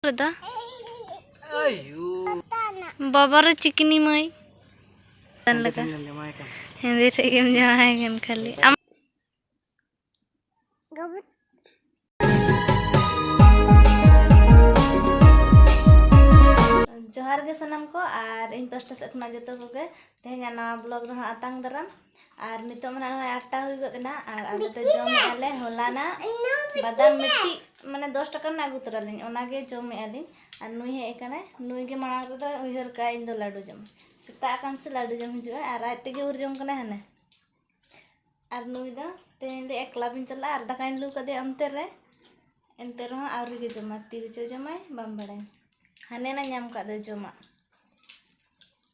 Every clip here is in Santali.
ᱨᱮᱫᱟ ᱵᱟᱵᱟᱨᱮ ᱪᱤᱠᱤᱱᱤ ᱢᱟᱹᱭ ᱞᱮᱠᱟ ᱦᱮᱸᱫᱮ ᱴᱷᱮᱡ ᱜᱮᱢ ᱡᱟᱶᱟᱭ ᱠᱟᱱ ᱠᱷᱟᱹᱞᱤ ᱟᱢ ᱡᱚᱦᱟᱨ ᱜᱮ ᱥᱟᱱᱟᱢ ᱠᱚ ᱟᱨ ᱤᱧ ᱯᱟᱥᱴᱟ ᱥᱮᱫ ᱠᱷᱚᱱᱟᱜ ᱡᱚᱛᱚ ᱠᱚᱜᱮ ᱛᱮᱦᱮᱧᱟᱜ ᱱᱟᱣᱟ ᱵᱞᱚᱜ ᱨᱮᱦᱚᱸ ᱟᱛᱟᱝ ᱫᱟᱨᱟᱢ ᱟᱨ ᱱᱤᱛᱚᱜ ᱢᱟ ᱱᱚᱜᱼᱚᱭ ᱟᱴᱴᱟ ᱦᱩᱭ ᱜᱚᱫ ᱮᱱᱟ ᱟᱨ ᱟᱞᱮ ᱫᱚ ᱡᱚᱢᱮᱫᱼᱟ ᱞᱮ ᱦᱚᱞᱟᱱᱟᱜ ᱵᱟᱫᱟᱢ ᱢᱤᱫᱴᱤᱡ ᱢᱟᱱᱮ ᱫᱚᱥ ᱴᱟᱠᱟ ᱨᱮᱱᱟᱜ ᱟᱹᱜᱩ ᱛᱚᱨᱟ ᱞᱤᱧ ᱚᱱᱟᱜᱮ ᱡᱚᱢᱮᱫᱼᱟ ᱞᱤᱧ ᱟᱨ ᱱᱩᱭ ᱦᱮᱡ ᱟᱠᱟᱱᱟᱭ ᱱᱩᱭ ᱜᱮ ᱢᱟᱲᱟᱝ ᱨᱮᱫᱚ ᱩᱭᱦᱟᱹᱨ ᱠᱟᱜᱼᱟ ᱤᱧ ᱫᱚ ᱞᱟᱹᱰᱩ ᱡᱚᱢ ᱥᱮᱛᱟᱜ ᱟᱠᱟᱱ ᱥᱮ ᱞᱟᱹᱰᱩ ᱡᱚᱢ ᱦᱤᱡᱩᱜᱼᱟ ᱟᱨ ᱟᱡ ᱛᱮᱜᱮ ᱩᱨ ᱡᱚᱢ ᱠᱟᱱᱟᱭ ᱦᱟᱱᱮ ᱟᱨ ᱱᱩᱭ ᱫᱚ ᱛᱮᱦᱮᱧ ᱞᱮ ᱮᱠᱞᱟ ᱵᱤᱱ ᱪᱟᱞᱟᱜᱼᱟ ᱟᱨ ᱫᱟᱠᱟᱧ ᱞᱩ ᱠᱟᱫᱮᱭᱟ ᱚᱱᱛᱮ ᱨᱮ ᱮᱱᱛᱮ ᱨᱮᱦᱚᱸ ᱟᱹᱣᱨᱤ ᱜᱮ ᱡᱚᱢᱟ ᱛᱤ ᱨᱮᱪᱚ ᱡᱚᱢᱟᱭ ᱵᱟᱢ ᱵᱟᱲᱟᱭᱟ ᱦᱟᱱᱮ ᱱᱟ ᱧᱟᱢ ᱠᱟᱜ ᱫᱚ ᱡᱚᱢᱟᱜ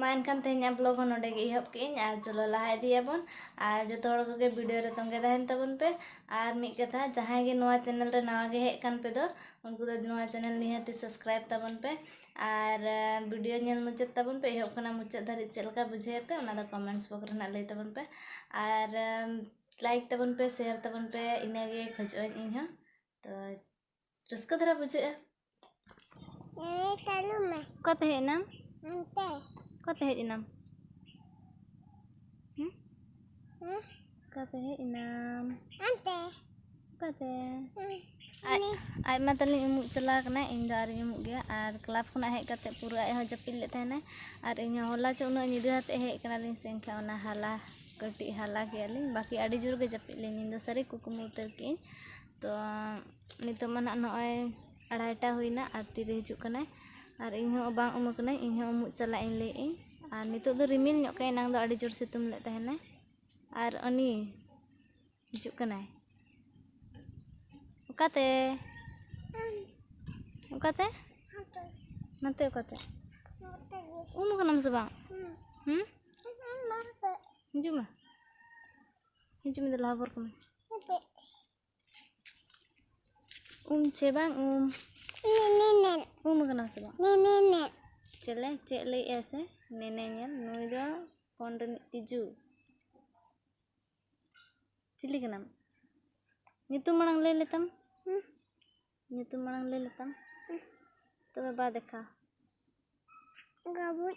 ᱢᱟ ᱮᱱᱠᱷᱟᱱ ᱛᱮᱦᱮᱧᱟᱜ ᱵᱞᱚᱜ ᱦᱚᱸ ᱱᱚᱰᱮ ᱜᱮ ᱮᱦᱚᱵ ᱠᱮᱜ ᱟᱹᱧ ᱟᱨ ᱪᱚᱞᱚ ᱞᱟᱦᱟ ᱤᱫᱤᱭᱟᱵᱚᱱ ᱟᱨ ᱡᱚᱛᱚ ᱦᱚᱲ ᱠᱚᱜᱮ ᱵᱷᱤᱰᱤᱭᱳ ᱨᱮ ᱛᱚᱸᱜᱮ ᱛᱟᱦᱮᱱ ᱛᱟᱵᱚᱱ ᱯᱮ ᱟᱨ ᱢᱤᱫ ᱠᱟᱛᱷᱟ ᱡᱟᱦᱟᱸᱭ ᱜᱮ ᱱᱚᱣᱟ ᱪᱮᱱᱮᱞ ᱨᱮ ᱱᱟᱣᱟ ᱜᱮ ᱦᱮᱡ ᱠᱟᱱ ᱯᱮ ᱫᱚ ᱩᱱᱠᱩ ᱫᱚ ᱱᱚᱣᱟ ᱪᱮᱱᱮᱞ ᱱᱤᱦᱟᱹᱛ ᱥᱟᱵᱥᱠᱨᱟᱭᱤᱵ ᱛᱟᱵᱚᱱ ᱯᱮ ᱟᱨ ᱵᱷᱤᱰᱤᱭᱳ ᱧᱮᱞ ᱢᱩᱪᱟᱹᱫ ᱛᱟᱵᱚᱱ ᱯᱮ ᱮᱦᱚᱵ ᱠᱷᱚᱱᱟᱜ ᱢᱩᱪᱟᱹᱫ ᱫᱷᱟᱹᱨᱤᱡ ᱪᱮᱫ ᱞᱮᱠᱟ ᱵᱩᱡᱷᱟᱹᱣ ᱯᱮ ᱚᱱᱟ ᱫᱚ ᱠᱚᱢᱮᱱᱴᱥ ᱵᱚᱠᱥ ᱨᱮ ᱞᱟᱹᱭ ᱛᱟᱵᱚᱱ ᱯᱮ ᱟᱨ ᱞᱟᱭᱤᱠ ᱛᱟᱵᱚᱱ ᱯᱮ ᱥᱮᱭᱟᱨ ᱛᱟᱵᱚᱱ ᱯᱮ ᱤᱱᱟᱹᱜᱮ ᱠᱷᱚᱡᱚᱜ ᱟᱹᱧ ᱤᱧᱦᱚᱸ ᱛᱚ ᱨᱟᱹᱥᱠᱟᱹ ᱫᱷᱟᱨᱟ ᱵᱩᱡᱷᱟᱹᱜᱼᱟ ᱚᱠᱟᱛᱮ ᱦᱮᱡ ᱮᱱᱟᱢ ᱚᱠᱟᱛᱮ ᱦᱮᱡ ᱮᱱᱟᱢ ᱚᱠᱟᱛᱮ ᱦᱮᱡ ᱮᱱᱟᱢ ᱚᱠᱟᱛᱮ ᱟᱡ ᱢᱟ ᱛᱟᱹᱞᱤᱧ ᱩᱢᱩᱜ ᱪᱟᱞᱟᱣ ᱠᱟᱱᱟᱭ ᱤᱧ ᱫᱚ ᱟᱨᱤᱧ ᱩᱢᱩᱜ ᱜᱮᱭᱟ ᱟᱨ ᱠᱞᱟᱵᱽ ᱠᱷᱚᱱᱟᱜ ᱦᱮᱡ ᱠᱟᱛᱮ ᱯᱩᱨᱟᱹ ᱟᱡ ᱦᱚᱸ ᱡᱟᱹᱯᱤᱫ ᱞᱮᱫ ᱛᱟᱦᱮᱱᱟᱭ ᱟᱨ ᱤᱧ ᱦᱚᱸ ᱦᱚᱞᱟ ᱪᱚ ᱩᱱᱟᱹᱜ ᱧᱤᱫᱟᱹ ᱟᱛᱮ ᱦᱮᱡ ᱠᱟᱱᱟᱞᱤᱧ ᱥᱮ ᱮᱱᱠᱷᱟᱱ ᱚᱱᱟ ᱦᱟᱞᱟ ᱠᱟᱹᱴᱤᱡ ᱦᱟᱞᱟ ᱠᱮᱫᱟᱞᱤᱧ ᱵᱟᱹᱠᱤ ᱟᱹᱰᱤ ᱡᱳᱨ ᱜᱮ ᱡᱟᱹᱯᱤᱫ ᱞᱤᱧ ᱤᱧ ᱫᱚ ᱥᱟᱹᱨᱤ ᱠᱩᱠᱢᱩ ᱩᱛᱟᱹᱨ ᱠᱮᱫᱟᱹᱧ ᱛᱚ ᱱᱤᱛᱚᱜ ᱢᱟ ᱱᱟᱦᱟᱜ ᱱᱚᱜᱼᱚᱭ ᱟᱲᱟᱭᱴᱟ ᱦᱩᱭᱮᱱᱟ ᱟᱨ ᱛᱤᱨᱮ ᱦᱤᱡᱩᱜ ᱠᱟᱱᱟᱭ ᱟᱨ ᱤᱧ ᱦᱚᱸ ᱵᱟᱝ ᱩᱢ ᱟᱠᱟᱱᱟᱹᱧ ᱤᱧ ᱦᱚᱸ ᱩᱢᱩᱜ ᱪᱟᱞᱟᱜ ᱤᱧ ᱞᱟᱹᱭᱮᱫ ᱟᱹᱧ ᱟᱨ ᱱᱤᱛᱚᱜ ᱫᱚ ᱨᱤᱢᱤᱞ ᱧᱚᱜ ᱠᱟᱜᱼᱟᱭ ᱮᱱᱟᱝ ᱫᱚ ᱟᱹᱰᱤ ᱡᱳᱨ ᱥᱤᱛᱩᱝ ᱞᱮᱫ ᱛᱟᱦᱮᱱᱟᱭ ᱟᱨ ᱩᱱᱤ ᱦᱤᱡᱩᱜ ᱠᱟᱱᱟᱭ ᱚᱠᱟᱛᱮ ᱚᱠᱟᱛᱮ ᱱᱚᱛᱮ ᱚᱠᱟᱛᱮ ᱩᱢ ᱠᱟᱱᱟᱢ ᱥᱮ ᱵᱟᱝ ᱦᱩᱸ ᱦᱤᱡᱩᱜ ᱢᱮ ᱦᱤᱡᱩᱜ ᱢᱮ ᱞᱟᱦᱟ ᱵᱚᱨ ᱠᱟᱹᱢᱤ ᱩᱢ ᱪᱮ ᱵᱟᱝ ᱩᱢ ᱱᱮᱱᱮᱱ ᱩᱢ ᱠᱟᱱᱟ ᱥᱮ ᱵᱟᱝ ᱱᱮᱱᱮᱱ ᱪᱮᱞᱮ ᱪᱮᱫ ᱞᱟᱹᱭᱮᱜᱼᱟ ᱥᱮ ᱱᱮᱱᱮ ᱧᱮᱞ ᱱᱩᱭ ᱫᱚ ᱯᱷᱳᱱ ᱨᱤᱱᱤᱡ ᱛᱤᱡᱩ ᱪᱤᱞᱤ ᱠᱟᱱᱟᱢ ᱧᱩᱛᱩᱢ ᱢᱟᱲᱟᱝ ᱞᱟᱹᱭ ᱞᱮᱛᱟᱢ ᱧᱩᱛᱩᱢ ᱢᱟᱲᱟᱝ ᱞᱟᱹᱭ ᱞᱮᱛᱟᱢ ᱛᱚᱵᱮ ᱵᱟ ᱫᱮᱠᱷᱟ ᱜᱟᱵᱩᱡ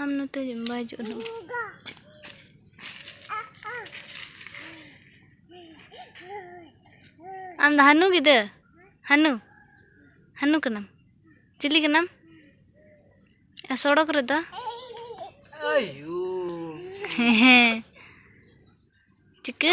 ᱟᱢ ᱱᱚᱛᱮ ᱦᱤᱡᱩᱜ ᱢᱮ ᱵᱟᱭ ᱦᱤᱡᱩᱜᱼᱟ ᱱᱟᱜ ᱟᱢ ᱫᱚ ᱦᱟᱹᱱᱩ ᱜᱤᱫᱟᱹᱨ ᱦᱟᱹᱱᱩ ᱦᱟᱹᱱᱩ ᱠᱟᱱᱟᱢ ᱪᱤᱞᱤ ᱠᱟᱱᱟᱢ ᱟᱨ ᱥᱚᱲᱚᱠ ᱨᱮᱫᱚ ᱦᱮᱸ ᱪᱤᱠᱟᱹ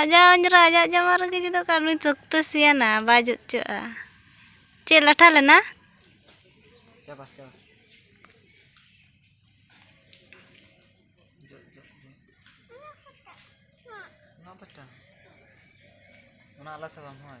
ᱟᱡᱟᱜ ᱚᱸᱡᱽᱨᱟ ᱟᱡᱟᱜ ᱡᱟᱢᱟ ᱨᱮᱜᱮ ᱡᱩᱫᱟᱹ ᱠᱟᱜ ᱱᱩᱭ ᱥᱚᱠᱛᱚ ᱥᱤᱭᱟᱱᱟ ᱵᱟᱭ ᱡᱩᱛ ᱦᱚᱪᱚᱜᱼᱟ ᱪᱮᱫ ᱞᱟᱴᱷᱟ ᱞᱮᱱᱟ ᱪᱟᱵᱟ ᱪᱟᱵᱟ ᱚᱱᱟ ᱟᱞᱟᱥ ᱵᱟᱝ ᱦᱳᱭ